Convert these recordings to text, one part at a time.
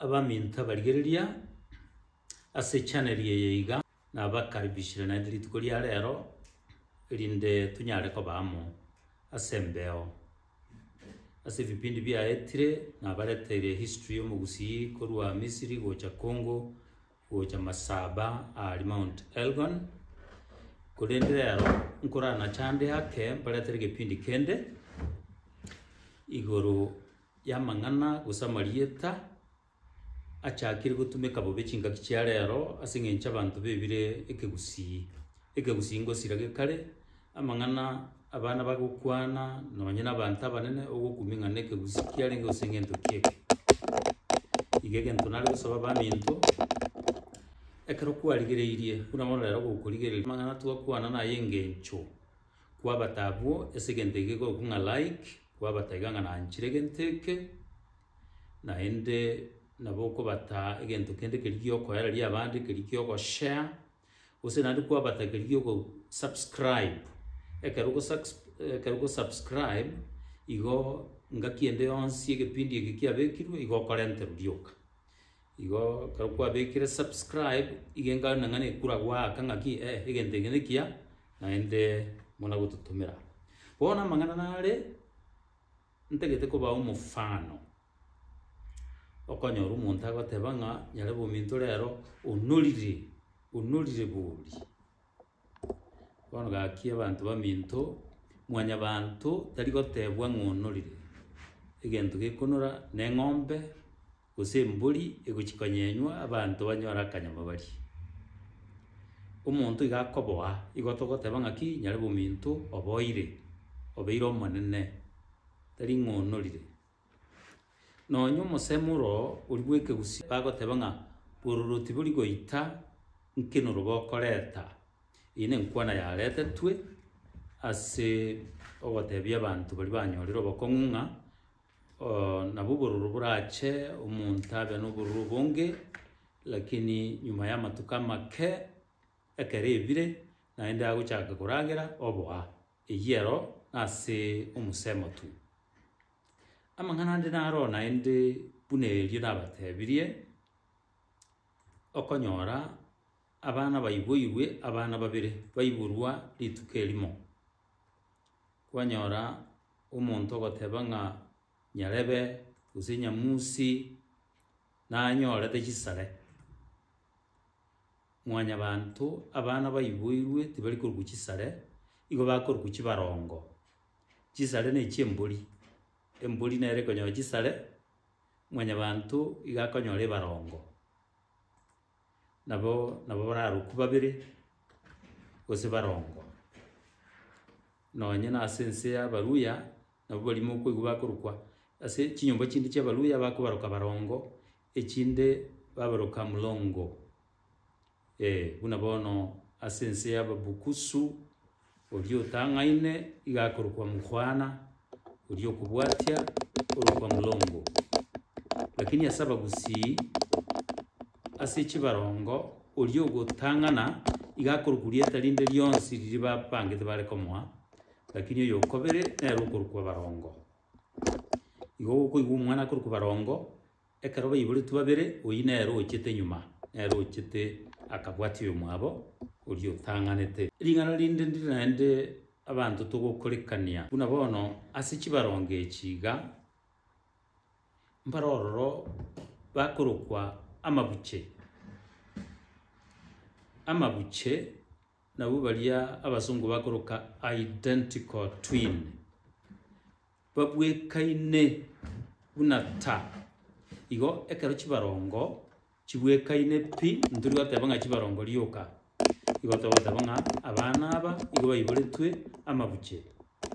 Abaminto abarigereria ase echaneli eye iga nabakaribishire naende rituko ria rero, erinde tonyare koba amo ase embeo. Ase ebipindi biaetire nabareteire history ya omogusii korwa Misiri gocha Congo, gocha Masaba aaria Mount Elgon, korende rero nkoranachande ake mbaretere egepindi kende igoro y'amang'ana gose amarieta achakire gotumeka bobe chingaki chia rero ase engencho abanto bebire ekegusii. Ekegusii ngosira gekare amang'ana abana bagokwana nonye na abanto abanene ogokumia ng'a nekegusi kiarenge gose ng'ento ki eke. Iga egento nare gosaba baminto, ekero kwarigereirie buna bono rero gokorigereria amang'ana twakwana naye engencho. Kwabata abwo ase egento eke egokwa ng'a like, kwabata iga ng'a nanchire egento eke, naende nabo okobata egento kende keria giokoereria abande, keria giogoshare, gose naende kwabata keria giogosubscribe. Ekero ogosucks ekero ogosubscribe, igo ngaki ende yonsi egepindi eke kiabekirwe igo okorenterwa rioka. Igo ekero kwabekire subscribe iga engaoni nang'ani ekura goaka ng'aki eh egento eke nekiya naende muna gototomera. Bono amang'ana nare ntagete kobaa omofano okonyora omonto agoteba ng'a nyarebe ominto rero onorire onorire bori. Bono gaki abanto baminto, mwanyabanto tari gotebwa ng'a onorire, egento gekonora neng'ombe gose embori egochi konyenywa abanto banyore akanyama barie. Omonto iga akoboa igo togoteba ng'aki nyare bominto oboire, obeire omonene, tari ng'a onorire. Nonya omosemi oro oria bw'ekegusii bagoteba ng'a bororo tibori goita nkinuru bokoreta. Eye nenkwana yaretetwe ase ogotebia abanto baria banyorire obokong'u ng'a nabo obororo borache omonto abe nobororo obonge lakini nyuma y'amatuko amake ekero ebire naende agochaka koragera oboa. Eyiero ase omosemo tu. Amang'ana ande naro naende buna erio nabatebirie, okonyora abana baiboirwe abana babere baiborwa rituko erimo. Kwanyora omonto ogoteba ng'a nyarebe gose nyamusi nanyorete chisare. Mwanyabaanto, abana baiboirwe tibari korokwa chisare, igo bakorokwa chibaroongo. Chisare ne chi'embori, embori nere ekonyora chisare, mwanyabaanto iga akonyora ebaroongo. Nabo nabo bararokwa babere gose baroongo. Nonye nase ense y'Abaluhya, nabo baria mokoigwa bakorokwa ase chinyomba chinde chi'Abaluhya bakobaroka baroongo. Echinde babaroka molongo, ee, buna bono ase ense y'Ababukusu, oria otang'aine iga akorokwa mokwana, oria okobwatia orokwa molongo. Lakini ase Abagusii, ase chibarongo, oria ogotang'ana iga akorokwa rieta rinde rionsi riria babangete bare komoa, lakini oyokobere nere okorokwa barongo. Igo okoigwa omwana akorokwa Barongo, ekero baiboretwe babere, oyio nere ochete nyuma, nere ochete akabwati oyomwabo oria otang'anete. Ring'ana rinde ndire naende abanto togokorekania buna bono ase chibarongo echi iga, mbare ororo bakorokwa amabuche, amabuche. Nabwo baria abasongo bakoroka identical twin babwekaine buna ta igo ekero chibarongo chibwekaine pi ntori goteba ng'a chibarongo rioka igo togoteba ng'a abana aba igo baiboretwe amabuche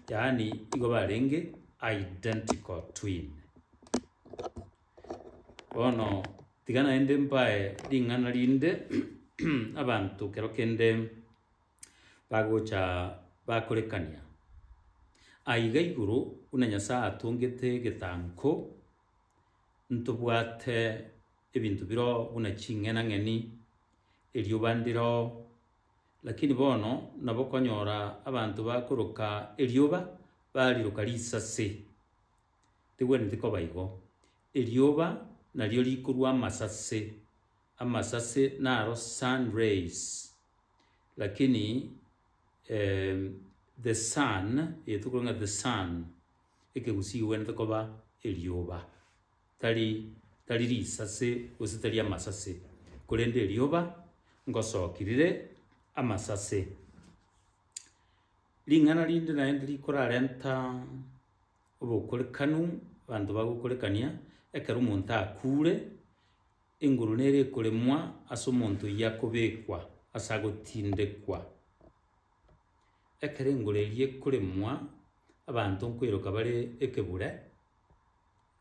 yaani igo barenge identical twin. Bono tiga naende mbae ring'ana rinde abanto kero kende bagocha bakorekania. Aiga igoro buna Nyasae atongete egetanko, ntobwate ebinto biro buna ching'enang'eni, erioba ndiro, lakini bono nabo okonyora abanto bakoroka erioba bariroka risase. tegwenereti koba igo. Erioba nario rikorua amasase, amasase naro sun rays, lakini the sun, eye tokorwa ng'a the sun, ekegusii kegwenerete koba erioba, tari tari risase gose tari amasase, korende erioba ngosoki rire amasase. Ring'ana rinde naende rikorarenta. Obokorekanu, Abanto bagokorekania ekero omonto akuure, enguru nere ekoremwa ase omonto oyio akobekwa ase agotindekwa. Ekero engoro eyio ekoremwa, abanto nkoiroka bare ekebure,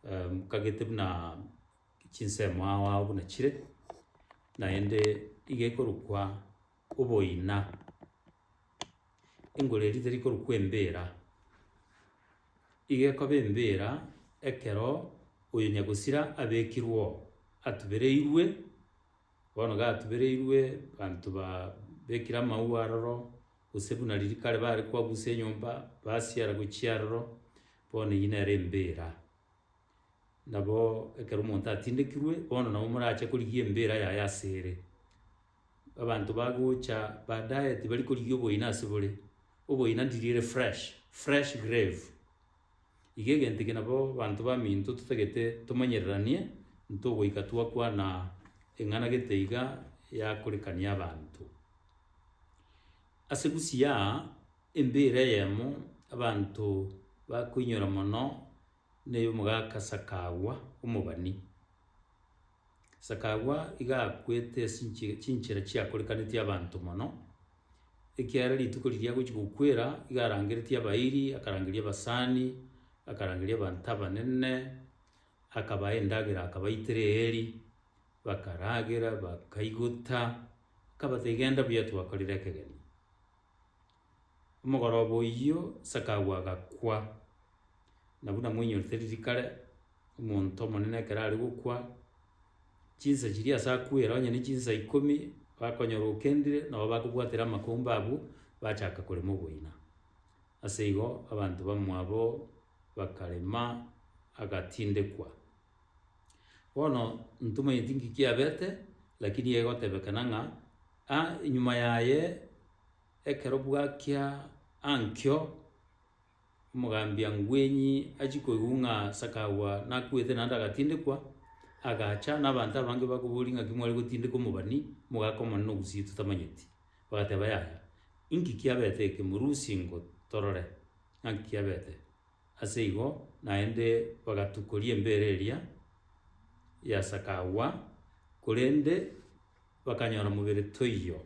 nkagete buna chinsemo ao ao buna chire, naende iga ekorokwa Oboina, Engoro eria teri korokwa embira, iga ekoba embira ekero oyo nyagosira abekirwe oo, atubereirwe, bono iga atubereirwe abanto ba bekire amaua aroro, gose buna riria kare bare koabusa enyomba basiara gochia aroro, bono eyio nere embira. Nabo ekero omonto atindekirwe, bono nabo morache korigia embira yaye ase ere. Abanto bagocha baadaye tibari korigia oboyina ase bore, oboyina ndiriere fresh, fresh grave. Iga egento eke nabo abanto baminto totagete tomanyereranie ntogoika twakwana eng'ana gete iga yakorekania abanto. Ase gusiaa, embeera eyemo abanto bakoinyora mono. neyomogaaka Sakagwa omobani. Sakagwa iga akwete esinche chinchera chiakorekaneti abanto mono, ekiagera rituko riria agochi gokwera iga arangereti abairi, akarangeria abasani, akarangeria abanto abanene, akabae endagera akabaitera eeri, bakaragera, bakaigota, akabatebia genda buya twakorire ekegeni. Omogoroba oyio Sakau agakwa, na buna moinyorete riria kare, omonto omonene ekero are gokwa, chinsa chiria ase akwere onye ne chinsa ikomi, bakonyora okendire, nabo bakobwatera amakumba abwo, bachaka korema oboina. Ase igo abanto bamwabo bakarema agatindekwa. Bono ntomanyeti nki kiabete, lakini egotebekana ng'a, a nyuma yaye. Ekero bwachia ankio, omogambia ngwenyi achia koigwa ng'a sakagwa nakuete naende agatindekwa, agacha na abanto abange bakoboria ng'aki mware gotindeka omobani, omogaka omonene na ogusii totamanyeti. Bagateba yaya, inki kiabete eke? Morusie ingo torore ng'a nki kiabete. Ase igo naende bagatukoria embere eria ya sakagwa, korende bakanyora mobere toiyo.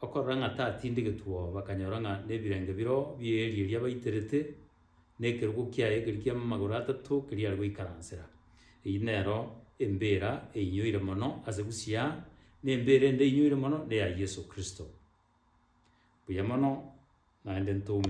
Okorora ng'a tatindigetwe oo, bakanyora ng'a nebirenge biroo bi'eeri eria baiterete, na ekerogo kiaye ekeria ki'amagoro atato keria are goikaransera. Eyio nero embeera einyoire mono ase Busia, na embeera ende einyoire mono neya Yeso Kristo. Mbuya mono, naende ntoume.